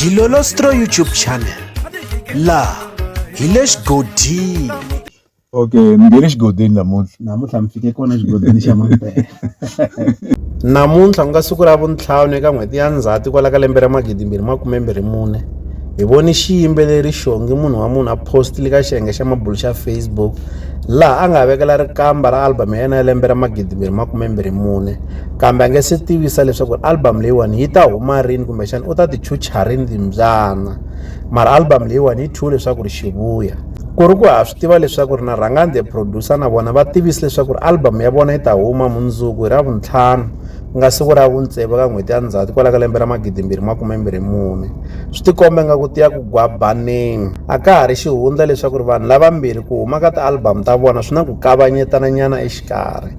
Dilolostro YouTube channel laha hi le xigodini okay ni nge le xigodini namuntlha namuntlha mi fike kona xigodini xa mampela namuntlha ku nga siku ra vuntlhanu eka n'hweti ya ndzhati kwala ka lembe ra magidi mbirhi makume mbirhi mune hi voni xiyimbeleri xongi munhu wa munhu a postile ka xiyenge xa mabulu xa facebook laha a nga vekela rikamba ra album ya yena ya lembe ra magidi mbirhi makume mbirhi mune kambe a nge se tivisa leswaku album leyiwani yi ta huma rini kumbexana u ta ti chucha rini timbyana mara album leyiwani yi thyiwe leswaku ri xivuya ku ri ku ha swi tiva leswaku ri na rhangani the producer na vona va tivise leswaku ri album ya vona yi ta huma mundzuku hi ra vuntlhanu ku nga siku ra vuntsevu ka n'hweti ya ndzhati kwala ka lembe ra magidimbirhi makumembirhi mune swi tikomba nga ku tiya ku gwabaneni a ka ha ri xihundla leswaku ri vanhu lavambirhi ku huma ka ti-album ta vona swi na ku kavanyetana nyana exikarhi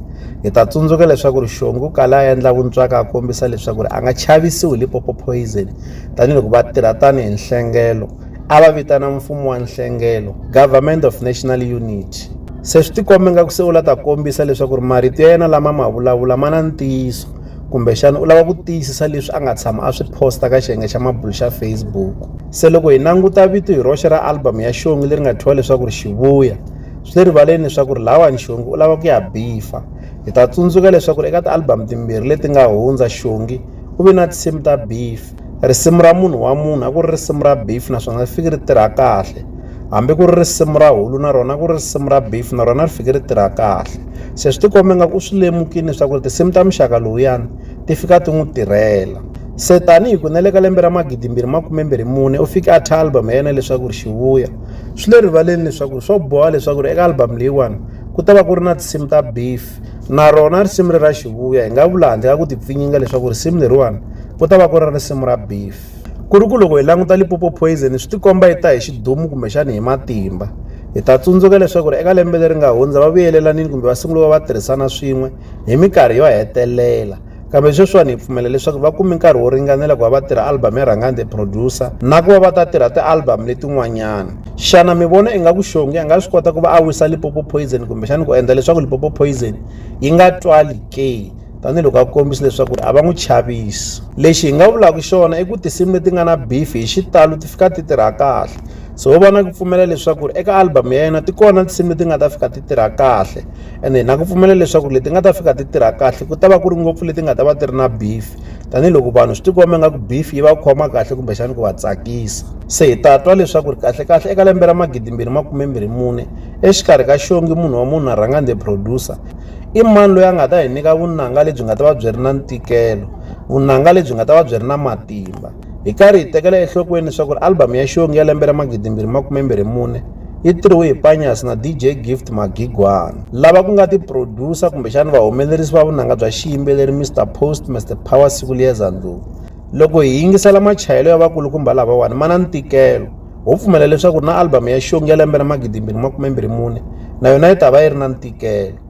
Hi ta tsundzuka leswaku ri Xongu u kale a endla vuntswaka a kombisa leswaku ri a nga chavisiwi hi Lipopo Poison tanihiloko va tirha tanihi nhlengelo a va vitana mfumo wa nhlengelo Government of National Unity se swi tikombe nga ku se u la ta kombisa leswaku ri marito ya yena lama ma vulavula ma na ntiyiso kumbexana u lava ku tiyisisa leswi a nga tshama a swi posta ka xiyenge xa mabulu xa Facebook se loko hi languta vito hi roxe ra album ya Xongi leri nga thyiwa leswaku ri Xivuya swi le rivaleni leswaku ri lawani xongi u lava ku ya bifa hi ta tsundzuka leswaku ri eka ti-album timbirhi leti nga hundza xongi u ve na tinsimu ta beef risimu ra munhu wa munhu a ku ri risimu ra beef naswona ri fike ri tirha kahle hambi ku ri risimu ra hulu na rona ku ri risimu ra beef na rona ri fike ri tirha kahle se swi tikombe nga ku u swi lemukile leswaku ri tinsimu ta muxaka lowuyani ti fika ti n'wi tirhela se tanihi ku na le ka lembe ra magidimbirhi makumembirhi mune u fike a thya album ya yena leswaku ri xivuya swi le rivaleni leswaku swo boha leswaku ri eka album leyiwani ku ta va ku ri na tinsimu ta beef na rona risimu ri ra xivuya hi nga vula handle ka ku tipfinyinga leswaku risimu leriwani ku ta va ku ri risimu ra beef ku ri ku loko hi languta lipopo poison swi tikomba yi ta hi xidumu kumbexani hi matimba hi ta tsundzuka leswaku ri eka lembe leri nga hundza va vuyelanini kumbe va sungule va va tirhisana swin'we hi minkarhi yo hetelela Kambe sweswiwani hi pfumela leswaku va kume nkarhi wo ringanela ku va va tirha album ya Rhangani the Producer na ku va va ta tirha ti-album letin'wanyana. Xana mi vona ingaku Shongi a nga swi kota ku va a wisa Limpopo Poison kumbexani ku endla leswaku Limpopo Poison yi nga twali ke? tanihiloko a kombisa leswaku a va n'wi chavisi lexi hi nga vulaka xona i ku tinsimu leti nga na beef hi xitalo ti fika ti tirha kahle so wo va na ku pfumela leswaku eka album ya yena ti kona tinsimu leti nga ta fika ti tirha kahle ene na ku pfumela leswaku leti nga ta fika ti tirha kahle ku ta va ku ri ngopfu leti nga ta va ti ri na beef tanihiloko vanhu swi tikomba nga ku beef yi va khoma kahle kumbexani ku va tsakisa se hi ta twa leswaku ri kahlekahle eka lembe ra magidimbirhi makumembirhi mune exikarhi ka xongi munhu wa munhu a rhanga the producer i mani loyi a nga ta hi nyika vunanga lebyi nga ta va byi ri na ntikelo vunanga lebyi nga ta va byi ri na matimba Hi karhi hi tekela enhlokweni leswaku album ya Xongi ya lembe ra 2024 yi tirhiwe hi Panyas na DJ Gift Magigwana, lava ku nga ti producer kumbexana vahumelerisi va vunanga bya xiyimbeleri Mister Post Mister Power Siku Liyeza Ndlovu. Loko hi yingisela machayelo ya vakulukumba lavawani ma na ntikelo, ho pfumela leswaku na album ya Xongi ya lembe ra 2024 na yona yi ta va yi ri na ntikelo.